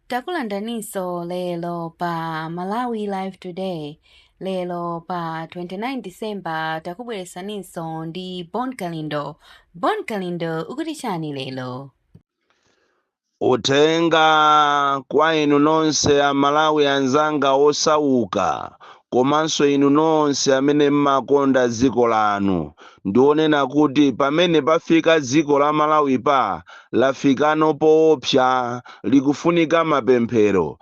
Takulandaninso lero pa Malawi Live Today. Lero pa 29 December takubweresaninso ndi Bon Kalindo. Bon Kalindo ukuti chani lero? Uthenga kwa inu nonse a Malawi anzanga osauka komanso inu nonse amene mmakonda dziko lanu. ndiwonena kuti pamene pafika dziko la Malawi lafika pano poopsa likufunika mapemphero,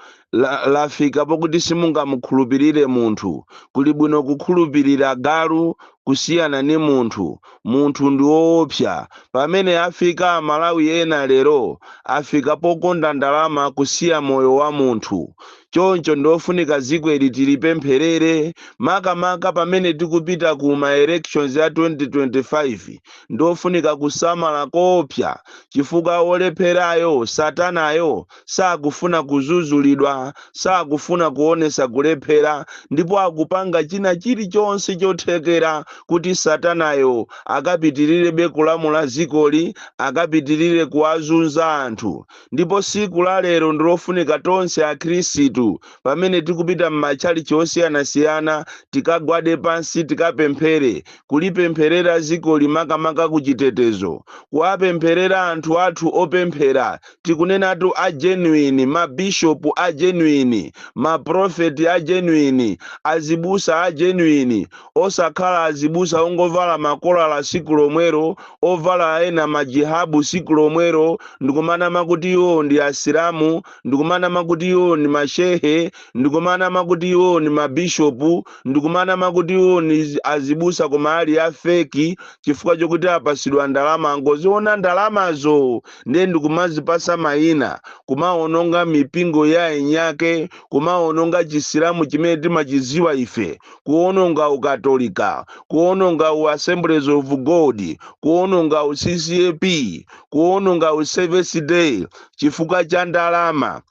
lafika pokuti simungamukhulupirire munthu kuli bwino kukhulupirira galu kusiyana ni munthu munthu ndiwoopsa pamene afika amalawi ena lero afika pokonda ndalama kusiya moyo wa munthu Choncho ndi ofunika zikoli tilipempherere makamaka pamene tikupita ku ma elections ya 2025. Ndi ofunika kusamala koopsa chifukwa wolepherayo, satanayo, sakufuna kuzuzulidwa, sakufuna kuonetsa kulephera ndipo akupanga china chilichonse chothekera kuti satanayo akapitilirebe kulamula zikoli, akapitilire kuwazunza anthu. Ndipo siku la lero ndilofunika tonse a Khristu pamene tikupita m'matchalitchi osiyanasiyana tikagwade pansi tikapemphere, kulipempherera zikoli makamaka ku chitetezo, kuwapempherera anthu athu opemphera, tikunenatu a genuine, ma bishop a genuine, ma prophet a genuine, azibusa a genuine, osakhala azibusa ongovala makolala siku lomwelo ovala ena majihabu siku lomwelo ndikumanama kuti iwo ndi asilamu ndikumanama kuti iwo ndi mashehe ndikumanama kuti iwo ndi mabishopu ndikumanama kuti iwo ndi azibusa koma ali a feki chifukwa chokuti apasidwa ndalama angoziona ndalamazo ndiye ndikumazipasa mayina kumaononga mipingo ya eniake kumaononga chisilamu chimene timachiziwa ife kuononga u Katolika, kuononga u Assemblies of God, kuononga u CCAP, kuononga u Seventh Day chifukwa cha ndalama.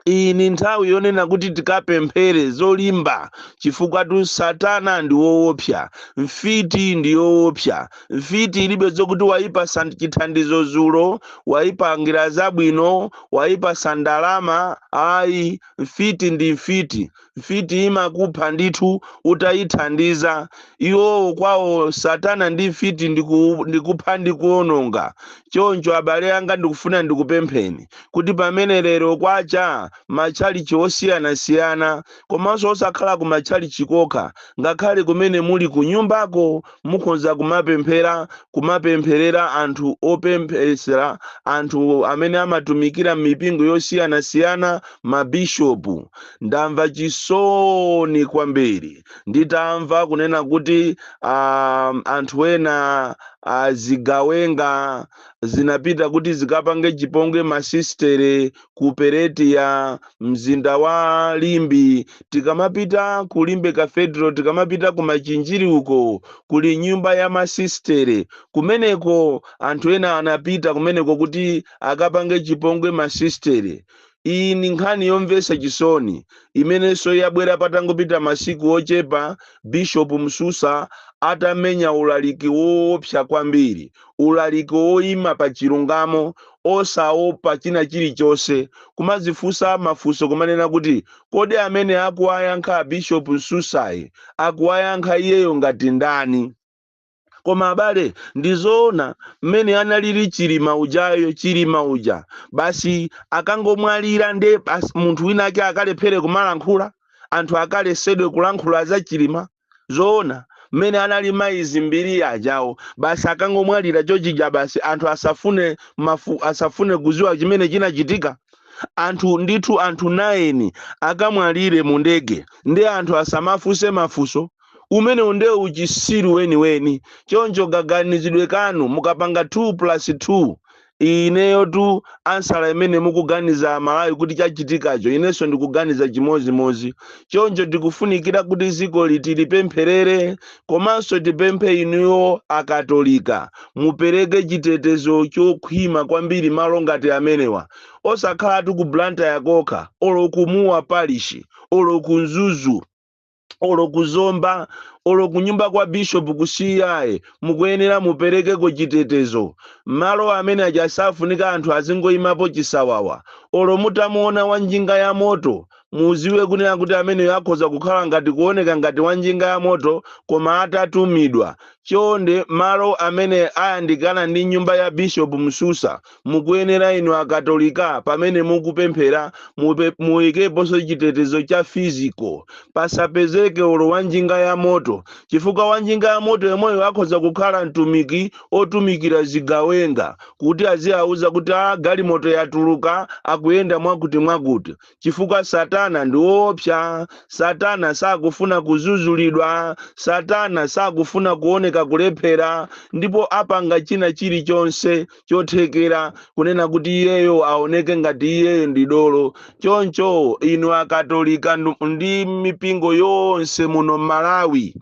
Iyi ni nthawi yonena kuti tikapemphere zolimba chifukwatu Satana ndi woopsa, mfiti ndi woopsa. Mfiti ilibe zokuti waipasa chithandizo dzulo, waipangira zabwino, waipasa ndalama. Ayi, mfiti ndi mfiti. Mfiti imakupha ndithu utayithandiza. Iwowo kwawo satana ndi mfiti ndikupha ndi kuononga. Choncho abale anga ndikufuna ndikupempheni kuti pamene lero kwacha matchalitchi osiyanasiyana komanso osakhala ku matchalitchi kokha ngakhale kumene muli kunyumbako mukhoza kumapemphera kumapempherera anthu opemphesera anthu amene amatumikira m'mipingo yosiyanasiyana mabishopu ndamva chisoni kwambiri nditamva kunena kuti um, anthu ena azigawenga zinapita kuti zikapange chipongwe masistere ku perete ya mzinda wa limbe tikamapita ku limbe cathedral tikamapita ku machinjiri uko kuli nyumba ya masistere kumeneko anthu ena anapita kumeneko kuti akapange chipongwe masistere iyi ndi nkhani yomvetsa chisoni imenenso yabwera patangopita masiku ochepa bishopu msusa atamenya ulaliki woopsa kwambiri ulaliki woima pa chilungamo, osaopa china chilichonse, kumadzifunsa mafunso kumanena kuti, kodi amene akuwayankha a Bishop Msusayi akuwayankha iyeyo ngati ndani? Koma abale ndizoona mmene analili Chilima ujayo Chilima uja basi akangomwalira nde basi munthu wina ake akalephere kumalankhula? Anthu akalesedwe kulankhula za Chilima? zoona mmene anali mayi dzimbiri ajawo basi akangomwalira chochija basi anthu asafune mafu asafune kuziwa chimene chinachitika anthu ndithu anthu 9 akamwalire mu ndege ndi anthu asamafunse mafunso umenewu nde uchisiru weniweni choncho kaganizidwe kanu mukapanga 2 plus 2 Ineyotu ansala imene mukuganiza amalawi kuti chachitikacho inenso ndikuganiza chimozimozi choncho tikufunikira kuti zikoli tilipempherere komanso tipemphe inuyo akatolika mupereke chitetezo chokhwima kwambiri malo ngati amenewa osakhalatu ku Blantyre kokha olo ku mua parish olo ku mzuzu olo kuzomba olo kunyumba kwa bishop kusiyaye mukuyenera muperekeko chitetezo malo amene aja safunika anthu azingoyimapo chisawawa olo mutamuona wa njinga ya moto muziwe kunena kuti ameneyo akhoza kukhala ngati kuoneka ngati wa njinga ya moto koma atatumidwa chonde malo amene ayandikana ndi nyumba ya bishop msusa Mukuyenera inu Akatolika pamene mukupemphera mupe, muikeponso chitetezo cha physical, pasapezeke olo wa njinga ya moto, chifukwa wa njinga ya moto yemweyo akhoza kukhala mtumiki otumikira zigawenga kuti aziauza kuti a galimoto yatuluka akuyenda mwakuti mwakuti. chifukwa satana ndi woopsa satana sakufuna kuzuzulidwa satana sakufuna kuoneka kulephera ndipo apanga china chilichonse chothekera kunena kuti iyeyo aoneke ngati iyeyo ndi dolo choncho inu akatolika ndu- ndi mipingo yonse muno m'malawi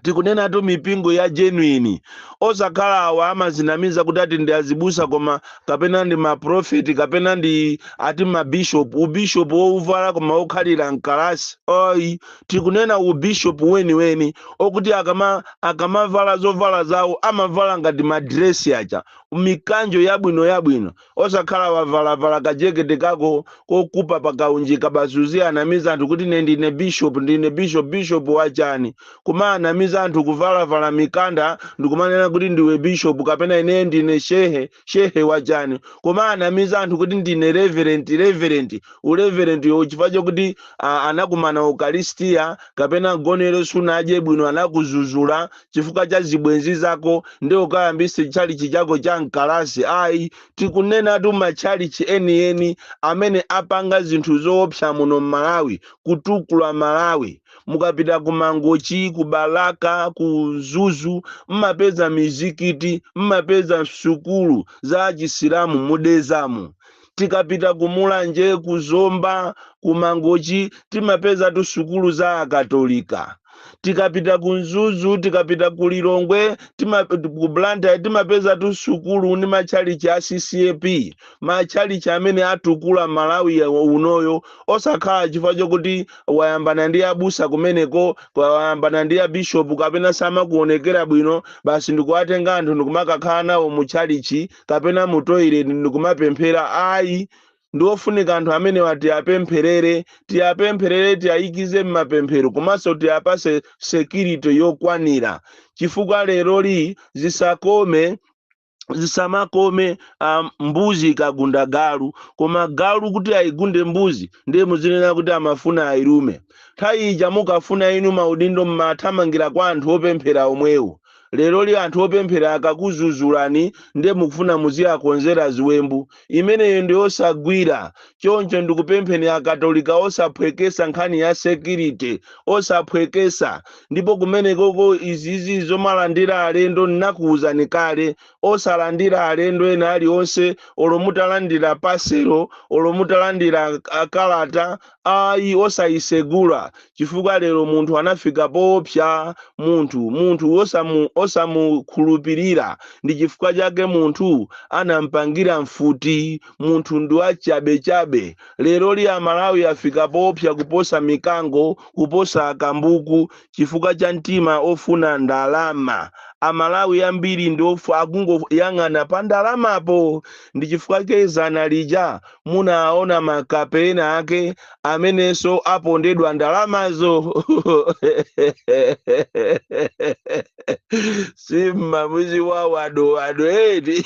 tikunenatu mipingo ya genuine osakhala awa amazinamiza kuti ati ndi azibusa koma kapena ndi maprofeti kapena ndi ati mabishop ubishop wouvala koma wokhalira mkalasi ayi tikunena ubishop weniweni okuti akama akamavala zovala zawo amavala ngati madresi aja mikanjo yabwino yabwino osakhala wavalavala kajekete kako kokupa pakaunjika basi uziyanamiza anthu kuti ine ndine bishop ndine bishop bishop wachani kumaanamiza anthu kuvalavala mikanda ndikumanena kuti ndiwe bishop kapena ine ndine shehe shehe wachani kumaanamiza anthu kuti ndine reverend reverend ureverend yo chifukwa chokuti ah, anakumana ukaristia kapena mgonero sunadye bwino anakuzuzula chifukwa cha zibwenzi zako nde ukayambise tchalichi chako cha mkalasi ayi tikunenatu matchalichi enieni amene apanga zinthu zoopsa muno mmalawi kutukula malawi mukapita ku mangochi ku balaka ku mzuzu mmapeza mizikiti mmapeza sukulu za achisilamu mu dedzamu tikapita ku mulanje ku zomba ku mangochi timapezatu sukulu za akatolika tikapita ku mzuzu tikapita ku lilongwe tima, ku blantyre timapezatu sukulu ndi matchalichi a ccap matchalichi amene atukula malawi ya- unoyo osakhala chifukwa chokuti wayambana ndi abusa kumeneko kwa- wayambana ndi abishopu kapena samakuonekera bwino basi ndikuwatenga anthu ndikumakakhala nawo mu tchalichi kapena mu toilet ndikumapemphera ayi ndi ofunika anthu amenewa tiapempherere tiapempherere tiayikize m'mapemphero komanso tiapase security yokwanira chifukwa leroli zisakome zisamakome um, mbuzi ikagunda galu koma galu kuti ayigunde mbuzi ndiye muzinena kuti amafuna ayilume nthawi ija mukafuna inu maudindo mmathamangira kwa anthu opemphera omwewo leroli anthu opemphera akakuzuzulani nde mukufuna muziakonzera ziwembu imeneyo ndi yosagwira choncho ndikupempheni akatolika osaphwekesa nkhani ya security osaphwekesa ndipo kumenekoko izizi zomalandira alendo nnakuuzani kale osalandira alendo ena alionse olo mutalandira parcel olo mutalandira ah, kalata ayi osayisegula chifukwa lero munthu anafika poopsa munthu munthu osamu osamukhulupirira ndi chifukwa chake munthu anampangira mfuti munthu ndi wachabechabe leroli amalawi afika poopsa kuposa mikango kuposa akambuku chifukwa cha mtima ofuna ndalama amalawi ambiri ndi ofu akungoyang'ana pa ndalamapo ndi chifukwa chake dzana lija munaona makape ena ake amenenso apondedwa ndalamazo si mmamudziwa Ado Ado eti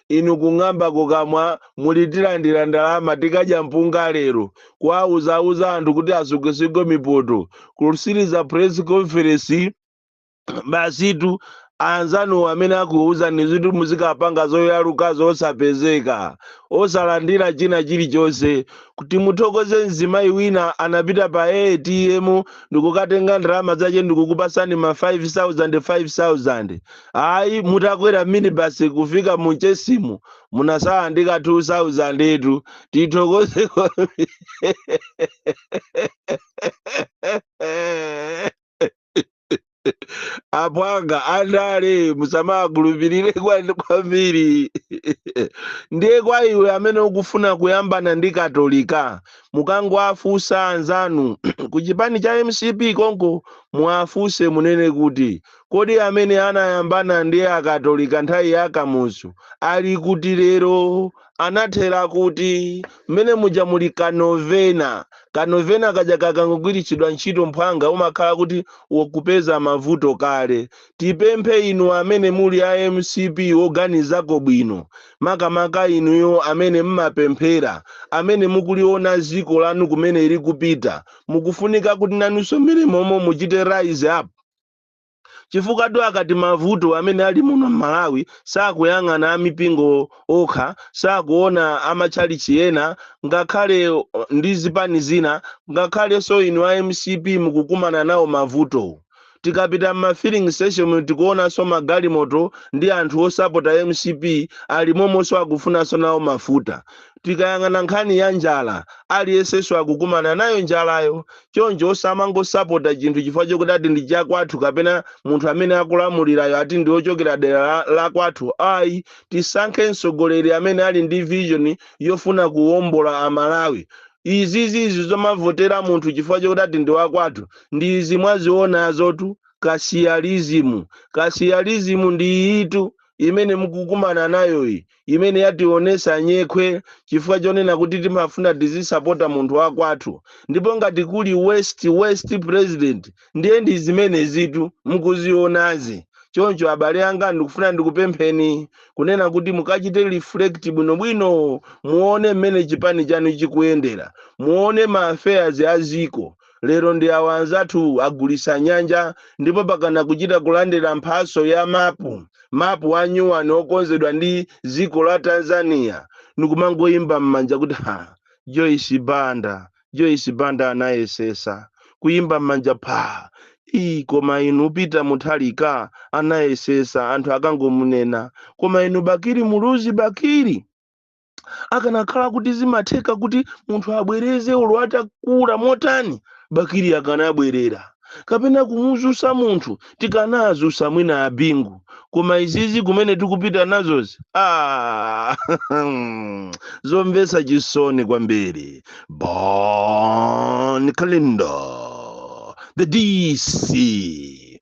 inu kung'amba kukamwa muli tilandira ndalama tikadya mpunga lero kuwauzauza anthu kuti asukesuke mipoto kusirira press conference basitu anzanu amene akuuzanizitu muzikapanga zoyalukazo osapezeka osalandira china chilichonse kuti muthokoze mzimayi wina anapita pa atm ndikukatenga ndalama zache ndikukupasani ma 5000 5000 Ayi mutakwera minibus kufika mu Chesimu munatsala ndi ka 2000 etu. Tithokoze kwambiri. Aphwanga andale musamakhulupirire kwa- kwambiri. Ndiye kwa iwe amene ukufuna kuyambana ndi Katolika mukangowafunsa anzanu ku chipani cha MCP konko muwafunse munene kuti Kodi amene anayambana ndi akatolika nthawi ya Kamuzu ali kuti lero? Anathera kuti? Mmene muja muli ka novena. Ka novena kaja kakangogwiritsidwa ntchito mphwanga umakhala kuti ukupeza mavuto kale. Tipemphe inu amene muli a mcp oganizako bwino, makamaka inuyo amene mmapemphera, amene mukuliona dziko lanu kumene ilikupita, mukufunika kuti nanunso mmene momo muchite rise up. chifukwatu akati mavuto amene ali muno m'malawi sakuyang'ana amipingo okha sakuona amatchalichi ena ngakhale uh, ndi zipani zina ngakhalenso inu a mcp mukukumana nawo mavuto tikapita m'ma filling station tikuonanso magalimoto ndi anthu osapota mcp ali momonso akufunanso nawo mafuta tikayang'ana nkhani ya njala aliyensenso akukumana nayo njalayo Choncho osamangosapota chinthu chifukwa chokuti ati ndi chakwathu kapena munthu amene akulamulirayo ati ndi wochokera dera la kwathu. Ayi, tisankhe mtsogoleri amene ali ndi vision yofuna kuwombola Amalawi. Izizi zi zomavotera munthu chifukwa chokuti ati ndi wakwathu ndi izi mwazionazotu kasiyalizimu. Kasiyalizimu ndi iyitu imene mukukumana nayoyi. imene yationesa nyekhwe chifukwa chonena kuti timafuna tizisapota munthu wakwathu ndipo ngati kuli worst worst president ndiye ndi zimenezitu mukuzionazi choncho abale anga ndikufuna ndikupempheni kunena kuti mukachite reflect bwinobwino muone mmene chipani chanu chikuyendera muone ma affairs a ziko Lero ndi awa nzathu agulisa nyanja ndipo mpakana kuchita kulandira mphaso ya mapu mapu a nyuwani okonzedwa ndi ziko la Tanzania ndikumangoyimba mmanja kuti ha Joyce Banda Joyce Banda anayesesa kuyimba mmanja phaa ii koma inu Peter Mutharika anayesesa anthu akangomunena koma inu Bakili Muluzi Bakili akanakhala kuti zimatheka kuti munthu abwereze olo atakula motani Bakili akanabwerera kapena kumuzusa munthu tikanazusa mwina a Bingu koma izizi kumene tikupita nazozi ah, zomvesa chisoni kwambiri Bon Kalindo the DC